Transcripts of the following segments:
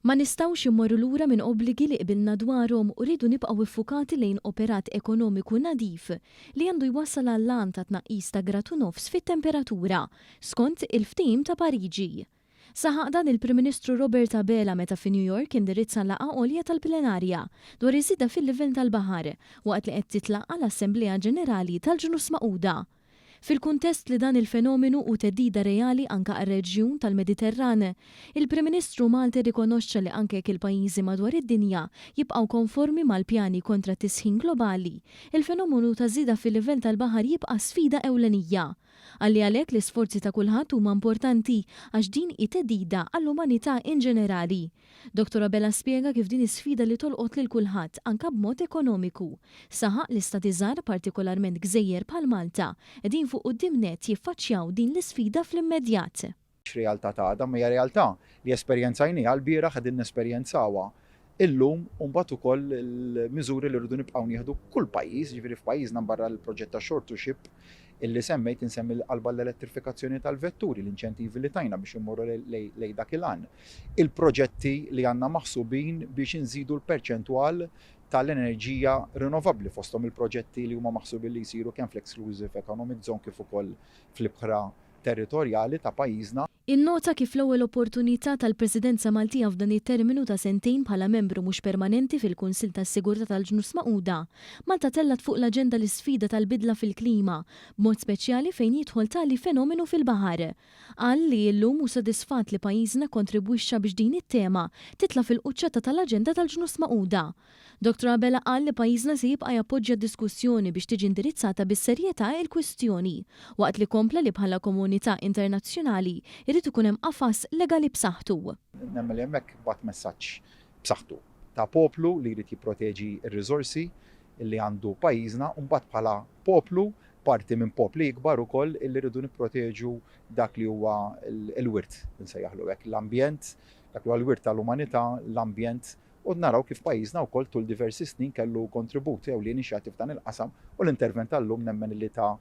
Ma nistgħux immorru lura minn obbligi li qbilna dwarhom u rridu nibqgħu ffukati lejn operat ekonomiku nadif li għandu jwassal għall-għan ta' tnaqqis ta' grad u nofs fit-temperatura, skont il-Ftehim ta' Pariġi. Saħaq dan il-Prim Ministru Robert Abela meta fi New York indirizza laqgħa għolja tal-plenarja dwar iż-żieda fil-livell tal-baħar waqt li qed titlaqqa' l-Assemblea Ġenerali tal-Ġnus Magħquda. Fil-kuntest li dan il-fenomenu hu theddida reali anke għar-reġjun tal-Mediterran, il-Prim Ministru Malti rrikonoxxa li anke jekk il-pajjiżi madwar id-dinja jibqgħu konformi mal-pjani kontra t-tisħin globali, il-fenomenu ta' żieda fil-livell tal-baħar jibqa' sfida ewlenija. Qal li għalhekk l-isforzi ta' kulħadd huma importanti għax din hi theddida għall-umanità inġenerali. Dottor Abela spjega kif din hi sfida li tolqot lil kulħadd, anke b'mod ekonomiku. Saħaq li Stati żgħar, partikolarment gżejjer bħal Malta, qegħdin fuq quddiem nett jiffaċċjaw din l-isfida fl-immedjat. X'realtà ta' għada, imma hija realtà li esperjenzajnieha lbieraħ, qegħdin nesperjenzawha illum u mbagħad ukoll il-miżuri li rridu nibqgħu nieħdu kull pajjiż, jiġifieri f'pajjiżna mbarra l-proġett ta' Shore to Ship illi semmejt, insemmi l-qalba l-elettrifikazzjoni tal-vetturi, l-inċentivi li tajna biex immorru lejn dak il-għan. il-proġetti li għandna maħsubin biex inżidu l-perċentwal tal-enerġija rinnovabbli, fosthom il-proġetti li huma maħsubin li jsiru kemm fl-Exclusive Economic Zone kif ukoll fl-ibħra territorjali ta' pajjiżna. Innota kif l-ewwel opportunità tal-Presidenza Maltija f'dan it-terminu ta' sentejn bħala membru mhux permanenti fil-Kunsill tas-Sigurtà tal-Ġnus Magħquda, Malta tellgħet fuq l-aġenda l-isfida tal-bidla fil-klima, b'mod speċjali fejn jidħol tali fenomenu fil-baħar. Qal li llum hu sodisfatt li pajjiżna kkontribwixxa biex din it-tema titla' fil-quċċata tal-aġenda tal-Ġnus Magħquda. Dottor Abela qal li pajjiżna se jibqa' jappoġġja d-diskussjoni biex tiġi indirizzata bis-serjetà il-kwistjoni, waqt li kompla li bħala komunità internazzjonali jrid ikun hemm qafas legali b'saħħtu. Nemmen li hemmhekk bagħat messaġġ b'saħħtu ta' poplu li jrid jipproteġi r-riżorsi li għandu pajjiżna u mbagħad bħala poplu parti minn popli ikbar ukoll illi rridu nipproteġu dak li huwa l-wirt, insejjaħlu hekk, l-ambjent, dak li huwa l-wirt tal-umanità, l-ambjent, u naraw kif pajjiżna wkoll tul diversi snin kellu kontribut ewlieni x'jagħti f'dan il-qasam u l-intervent tal-lum nemmen illi ta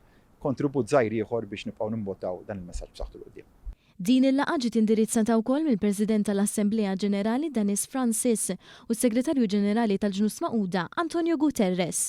kontribut żgħir ieħor biex nibqgħu nimbottaw dan il-messaġġ b'saħħtu 'l quddiem. Din il-laqgħa ġiet indirizzata wkoll mill-President tal-Assemblea Ġenerali Dennis Francis u s-Segretarju Ġenerali tal-Ġnus Magħquda Antonio Guterres.